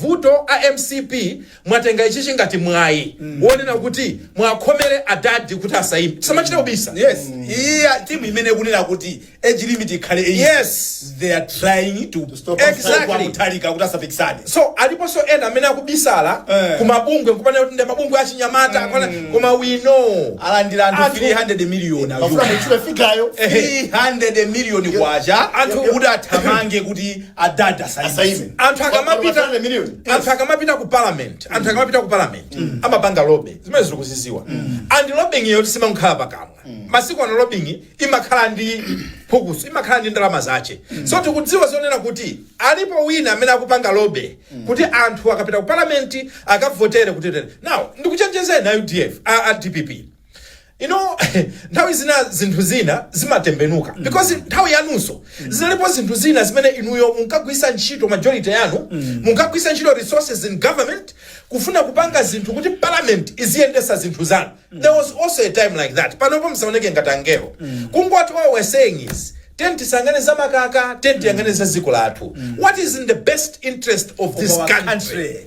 Vuto a MCP mwatenga ichichi ngati mwayi wonena kuti mwakhomere adadi kuti asaime. Tisamachite kubisa. Yes. Iyi timu imene kunena kuti age limit ikhale 80. Yes. They are trying to To stop us. Exactly. kwa Mutharika kuti asapikisane. So aliponso ena amene akubisala Eh. kumabungwe nkupanga kuti ndi mabungwe achinyamata akwana- koma we know. Alandira anthu Anthu- 300 million Mufuna. muchule figure yo. 300 million kwacha Anthu- kuti athamange kuti adadi asaime Asaime. anthu Koma akamapita masana million. anthu akamapita ku parliament anthu akamapita ku parliament amapanga lobby zimene tikuzidziwa and lobbying iyo simakhala pakamwa masiku ano lobbying imakhala ndi phukuso imakhala ndi ndalama zace so tikudziwa zonena kuti alipo ena amene akupanga lobby kuti anthu akapita ku parliament akavotere kuti tene now ndikuchenjezeni a UDF a, a DPP you know nthawi zina zinthu zina zimatembenuka because nthawi yanunso zinalipo zinthu zina zimene inuyo munkagwiritsa ntchito majority yanu munkagwiritsa ntchito resources in government kufuna kupanga zinthu kuti parliament iziyendetsa zinthu zanu there was also a time like that panopo musaoneke ngati angelo kungoti all we're saying is tiyeni tisayang'ane za makaka tiyeni tiyang'ane za dziko lathu what is in the best interest of this our country. country.